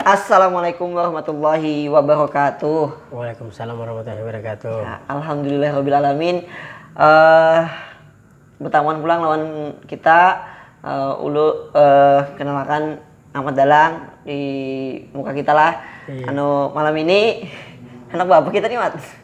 Assalamualaikum warahmatullahi wabarakatuh. Waalaikumsalam warahmatullahi wabarakatuh. Ya, Alhamdulillah Rabbil Alamin. Uh, bertamuan pulang lawan kita uh, ulu uh, kenalkan Ahmad Dalang di muka kita lah. Iya. Anu malam ini anak bapak kita nih Mat.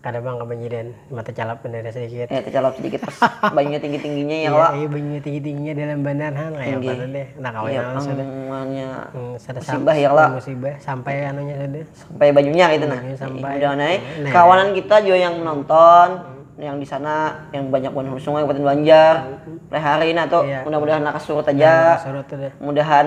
Kada pang ka banyu dan cuma tacalap banar ya sedikit. Ya tacalap sedikit pas banyunya tinggi tingginya ya kalo. Iya banyunya tinggi tingginya dalam banar ha kaya apa tu deh nang kawa hilang sudah. Musibah ya kalo. Musibah sampai anunya sudah. Sampai banyunya kaitu nah. Kawanan kita jua yang menonton yang di sana yang banyak buhan hulu sungai kabupaten banjar hari hari nah tu mudah mudahan lakas surut haja mudahan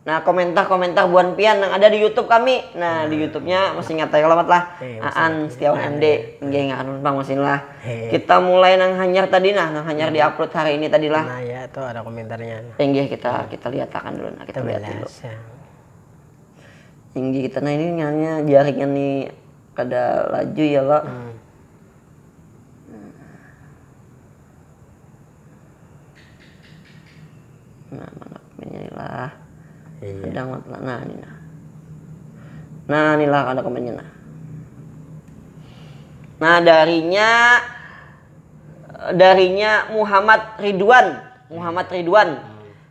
Nah, komentar-komentar buhan pian nang ada di YouTube kami. Nah, di YouTube-nya masih ingat ya kalau lah. Hey, eh, Aan Setiawan MD, nggih ingat anu bang masih lah. Hey. Eh. Kita mulai nang hanyar tadi nah, nang hanyar hmm. di upload hari ini tadi lah. Nah, ya tuh ada komentarnya. Enggih eh, kita hmm. kita lihat akan dulu nah, kita, kita lihat dulu. Ya. Tinggi kita nah ini nyanyi jaringnya nih kada laju ya lo. Hmm. nah mana lah iya. sedang matlah nah ini nah nah inilah ada komennya nah nah darinya darinya Muhammad Ridwan Muhammad Ridwan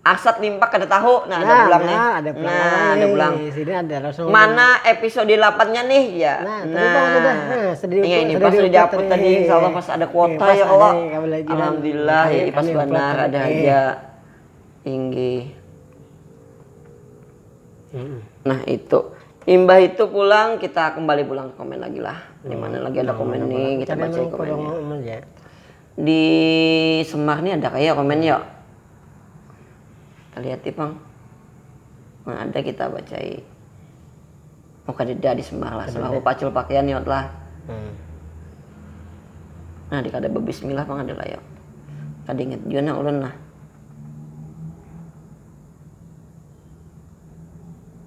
Arsat limpak kada tahu. Nah, ada pulang nih. Nah, ada pulang. Nah, Awal ada nih. pulang. Sini ada Rasul. Mana episode 8-nya nih? Ya. Nah, tadi Bang sudah. Nah, sedih Iya, ini pas sudah diupload tadi. Insya Allah pas ada kuota Pas ya ada Allah. nih, kami lagi. Alhamdulillah, Kami- ya, pas kami upload benar tadi. ada Eh. aja. Inggi. Mm-mm. Nah, itu. Imbah itu pulang kita kembali pulang ke komen lagi lah. Di mana lagi ada Nah, komen mana nih, pulang. kita Cari baca yang komen. kolom aja. Di Semar ni ada kaya komen yo. Kita lihati pang. Mun ada kita bacai. Oh kadeda di Semar lah. Semar bepacul pakian yo lah. Hmm. Nah di kada bebismillah pang ada lah yo. Kada ingat jua nah ulun lah.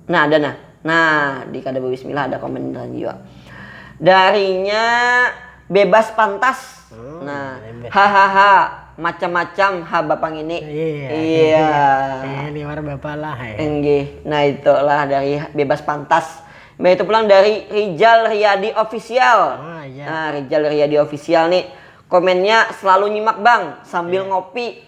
Nah, ada nah. Nah, di kada berbismillah ada komen tadi juga. Darinya bebas pantas. Hmm, nah, hahaha, macam-macam ha bapak ngini. Iya. iya. Saya liwar bapak lah. Ya. Enggih. Nah, itulah dari bebas pantas. Nah, itu pulang dari Rijal Riyadi Official. Oh, iya. Nah, Rijal Riyadi Official nih komennya selalu nyimak bang sambil yeah. ngopi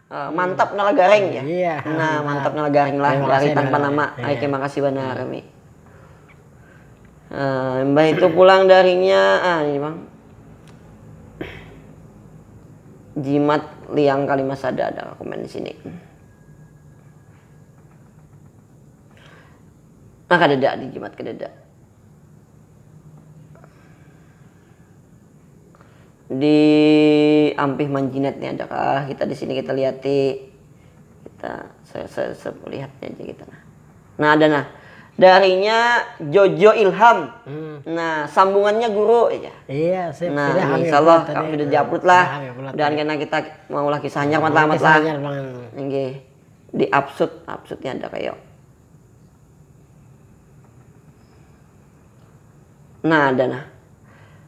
Uh, mantap nala garing ya. Iya. Nah, mantap nala garing lah. Lari tanpa nama. Iya. Oke, makasih benar kami. Uh, eh, mbah itu pulang darinya ah ini bang jimat liang kalimat sada ada komen di sini nah kadada di jimat kadada Di ampih manjinat ni ada kah kita di sini kita lihati. Kita lihatnya aja kita nah. Nah ada nah. Darinya Jojo Ilham. Nah sambungannya guru jar. Nah insyaallah kalo sudah di upload lah. Mudahan kena kita maulah kisah hanyar wan tamat lah. Nggih. Di upsud, upsud nya ada kayo. Nah ada nah.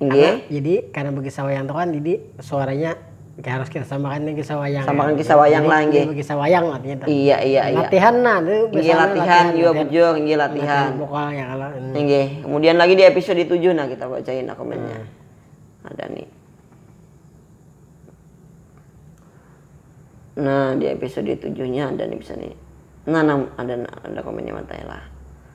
Karena jadi karena bekisah wayang tu kan jadi suaranya kaya harus kita samakan dengan kisah wayang. Samakan kisah wayang lah inggih. Bekisah wayang lah artinya tu. Iya iya iya. Latihan nah tu biasanya. Inggih latihan jua bujur inggih latihan. Latihan vokal ya kalo. Inggih, kemudian lagi di episode tujuh nah kita bacain nah komennya. Ada nih. Nah di episode tujuhnya ada nih bisa nih. Nah, nah ada ada komennya mantap lah.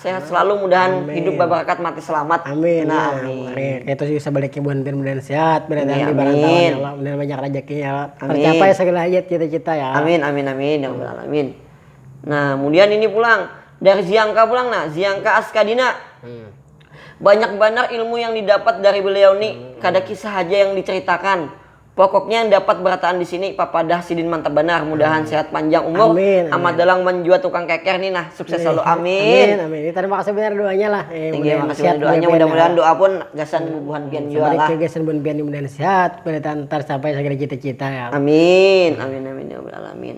sehat selalu mudahan amin. hidup babarakat mati selamat amin nah, amin, amin. itu sih sebaliknya buan pin mudahan sehat mudahan ya, amin. Allah mudahan banyak rezeki ya Allah amin. tercapai segala hajat cita-cita ya amin amin amin ya Allah amin nah kemudian ini pulang dari Ziangka pulang nah Ziangka Askadina hmm. banyak benar ilmu yang didapat dari beliau nih hmm. kada kisah aja yang diceritakan Pokoknya yang dapat berataan di sini papadah sidin mantap banar mudahan sehat panjang umur amin, amat dalang wan jua tukang keker nih nah sukses selalu amin amin amin kita terima kasih banyak doanya lah thank you makasih banyak doanya mudah mudahan doa pun gasan bubuhan pian jua lah sampai gasan bubuhan pian mudahan sehat palitan tarcapai segala cita cita ya allah amin amin amin ya rabbal alamin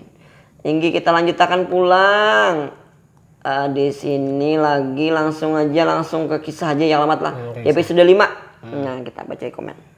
ini kita lanjut akan pulang di sini lagi langsung aja langsung ke kisah aja yang alamat lah episode lima nah kita baca komen.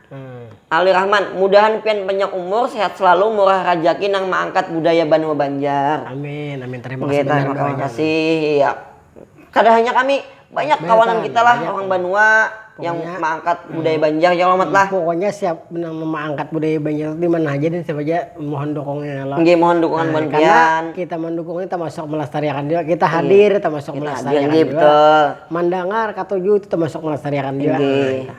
Ali Rahman, mudahan pian panjang umur, sehat selalu, murah rajaki nang maangkat budaya banua Banjar. Amin, amin. Tarima kasih banar kawanan. Tarima kasih, iya. Kada hanya kami, banyak kawanan kita lah orang banua yang maangkat budaya Banjar ya kalo Mat lah. Pokoknya siap nang maangkat budaya Banjar tu dimana haja dan siapa haja mohon dukungnya ya kalo. Nggih, mohon dukungan wan pian. Karena kita mandukung ni tamasuk melestariakan jua, kita hadir tamasuk melestariakan jua. Kita hadir, nggih betul. Mandangar, katuju itu tamasuk melestariakan jua. Nggih.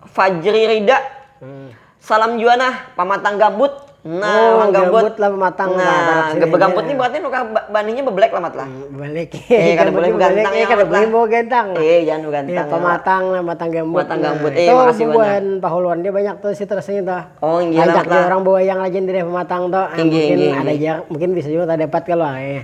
Fajri Rida salam jua nah pamatang gambut nah orang gambut gambut lah pamatang nah lah barak sini gambut gambut ni berarti nukah baninya bebelek lah mat lah bebelek eh kada boleh begantang eh kada boleh begantang eh jangan begantang pamatang lah pamatang gambut pamatang gambut eh makasih banyak bubuhan pahuluan dia banyak tuh si terus nya tuh oh ngiya lah mat lah banyak lagi yang di daerah pamatang tuh inggih inggih inggih ada ja mungkin bisa jua tadapat kalo.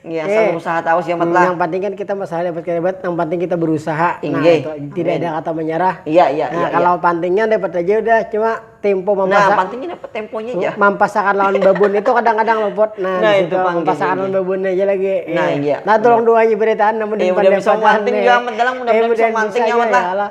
Ngi asal Oke. berusaha tahu si Amat lah. Nang panting kan kita masalah dapat kada dapat, nang panting kita berusaha. Nah, Inggih. itu. Tidak Amin. ada kata menyerah. Iya, iya, Nah, iya, kalau pantingnya dapat aja udah, cuma tempo Nah, mampasak- panting ini dapat temponya ja. mampasakan lawan babon itu kadang-kadang luput. Nah, Nah, di itu situ pang, mampasakan inggih, lawan babon aja lagi. Nah, iya. Nah, tulung dua aja beritaan namun Iya, mudah bisa manting jua, Amat, dalam. Mudah-mudahan bisa manting, ya, Amat, lah.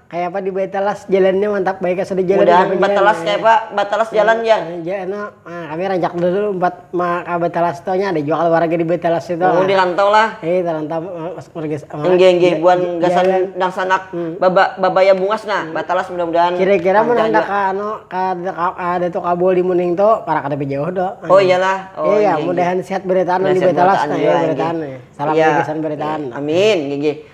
Kaya apa di Batalas jalannya mantap baik ya sudah jalan. Mudahan Batalas kaya apa Batalas jalan jar. kami rancak dulu umpat ma ka Batalas tu nya ada jua kalo warga di Batalas itu. Oh di rantau lah. Hei tarantau masuk marga. Engge engge buan gasan dangsanak baba babaya bungas nah Batalas mudah mudahan. Kira kira mun handak ka anu ka Datu Kabul di Muning tu parak kada bejauh tu. Oh iya lah. Oh iya mudahan sehat berataan di Batalas. Salam gasan berataan. Amin gigi.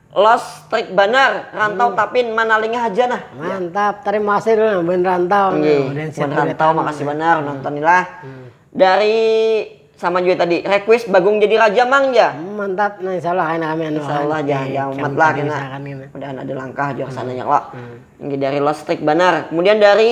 Los strik banar rantau tapin manalinga haja nah. Mantap, tarima kasih dulu nah bun rantau. Nggih, nah, Udin bun Setan rantau Wetan. makasih banar nonton ni lah. Dari sama jua tadi, request Bagong jadi raja mang jar. Hmm, mantap, nah insya Allah kena kami anu Insya akan Allah di jangan jangan umat lah kami kena. usahakan kena. Mudahan ada langkah jua kesananya kalo. Nggih dari Los Strik banar. Kemudian dari.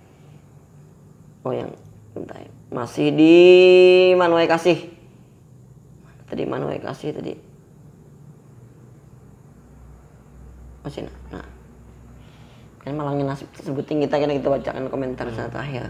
oh yang bentar ya. masih di manuai kasih tadi manuai kasih tadi masih oh, nah kan malangin nasib sebutin kita kena kita bacakan komentar hmm. saat akhir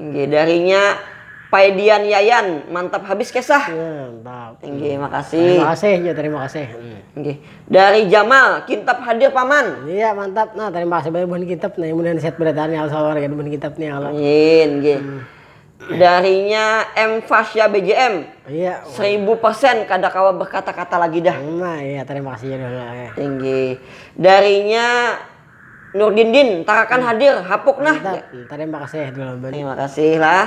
Inggih darinya paedian yayan mantap habis kesah. Nah, mantap. Inggih makasih. Tarima kasih ja tarima kasih. Inggih dari jamal kintap hadir paman. Iya mantap nah tarima kasih banyak buhan kintap nah mudahan sehat barataan ya allah warga buhan kintap nih ya allah. Amin inggih. Darinya M Fasya BJM. Iya. Seribu persen kada kawa berkata-kata lagi dah. Nah iya tarima kasih ja dahulu. Inggih darinya. Nurdin din, tarakan hadir, hapuk nah. Mantap, tarima kasih Dulaman. Terima kasih lah.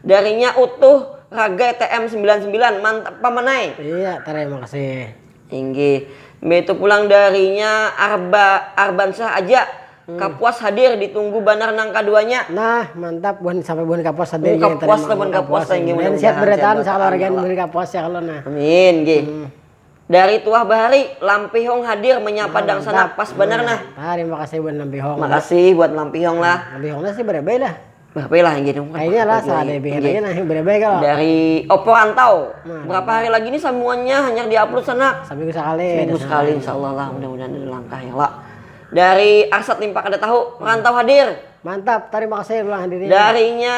Darinya Utuh Ragai TM sembilan sembilan, mantap paman ai. Iya, tarima kasih. Inggih. Mbeitu pulang darinya Arba Arbansyah aja, Kapuas hadir, ditunggu banar nang kaduanya. Nah, mantap buhan sampai buhan Kapuas hadir Ung, inggih, tarima Kapuas lah buhan Kapuas lah inggih, mudah Mudahan sehat mudahan sehat berataan berataan, sakeluarga insyaallah. buhan Kapuas ya kalo nah. Amin, inggih. Dari tuah bahari, Lampihong hadir menyapa dangsanak pas banar nah. Tarima kasih buat Lampihong. Makasih buat Lampihong lah. Lampihong nah si berebai lah. Berebai lah ini. Kayaknya lah salah dari bihin aja nah berebai kalo. Dari Oppo Rantau. Berapa hari lagi nih samuannya hanyar di upload sanak. Saminggu sakali. Saminggu sakali insyaallah lah mudah mudahan ada langkah ya lah. Dari Arsat Limpa Kada Tahu, Rantau hadir. Mantap, tarima kasih ulah hadirin. Dari nya.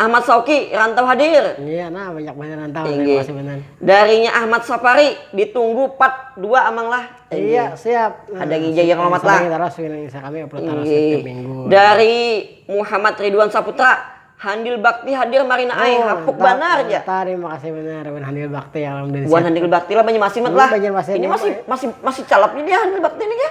Ahmad Shauqi, rantau hadir. Iya nah banyak banyak rantau tinggi. Darinya Ahmad Safari ditunggu part 2 amang lah. Tinggi. Iya siap. Nah, Ada ngija yang lomat lah. Terus kami upload terus setiap minggu. Dari Muhammad Ridwan Saputra. Handil Bakti hadir marina ai oh, hapuk banar ya. Terima kasih benar Wan Handil Bakti alhamdulillah. Wan Handil Bakti lah banyak masih mat lah. Ini masih masih masih calap ini Handil Bakti ini ya.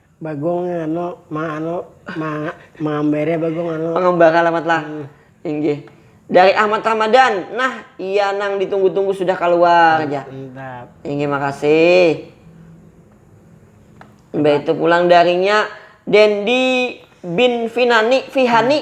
Bagong anu ma anu ma mangambari bagong anu. Pangambara alamat lah inggih. Dari Ahmad Ramadan, nah iya nang ditunggu tunggu sudah kaluar ja. Mantap. Inggih makasih. Imbah itu pulang darinya Dendi bin Finani, Fihani.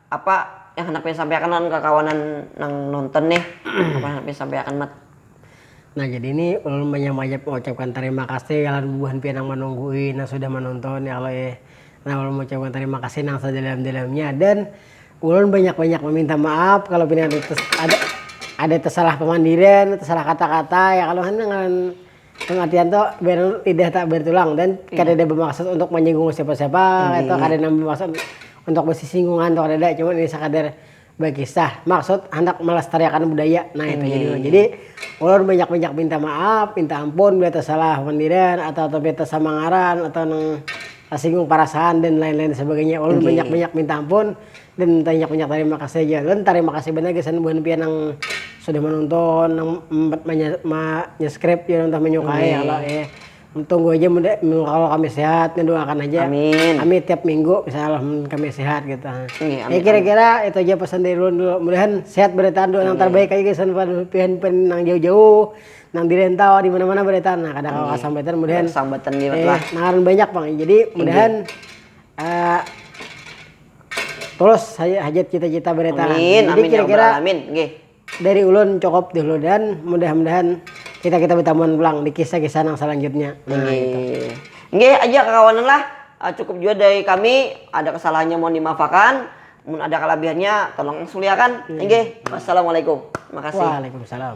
Apa yang handak pian sampaiakan lawan kakawanan nang nonton nih? Apa yang handak pian sampaiakan Mat? Nah jadi ni ulun banyak banyak mengucapkan tarima kasih lawan bubuhan pian nang manunggui nang sudah manonton ya Allah eh. Nah ulun mengucapkan tarima kasih nang sadalam dalamnya dan ulun banyak banyak meminta maaf kalo pina ada ada tesalah pamandiran tesalah kata kata ya kalo hanyar ngaran. Pematian tu lidah tak bertulang dan kadada bamaksud untuk manyinggung siapa-siapa kaytu, kada nang bamaksud untuk basisinggungan tu kadada, cuma ini sakadar bakisah, maksud handak malastariakan budaya nah itu jadi ulun. Jadi ulun banyak-banyak minta maaf, minta ampun bila tasalah pandiran atau tapi tasama ngaran atau nang tasinggung parasaan dan lain-lain sebagainya ulun banyak-banyak minta ampun. Dan banyak banyak tarima kasih haja lun tarima kasih banar gasan buhan pian nang sudah menonton nang menyeskrip jua nang sudah menyukai ya kalo ya tunggu haja kalo kami sehat nih doa akan haja kami tiap minggu misalnya lah mun kami sehat gitu ya kira kira itu haja pesan dari ulun dulu mudahan sehat baritaan doa nang tarbaik haja gasan buhan pian nang jauh jauh nang di rentau dimana mana baritaan nah kada kawa sambatan mudahan nang banyak pang jadi mudahan. Tulus haja hajat cita-cita bereta. Amin, Jadi amin ya kira-kira robbal alamin. Nggih. dari ulun cukup dulu dan mudah-mudahan kita-kita betamuan pulang di kisah-kisah nang salanjutnya. Nah, itu. Nggih. Nggih aja kakawanan lah, eh, cukup jua dari kami, ada kesalahannya mohon dimaafakan, mun ada kalabihannya tolong suliakan. Nggih. Wassalamualaikum. Makasih. Waalaikumsalam.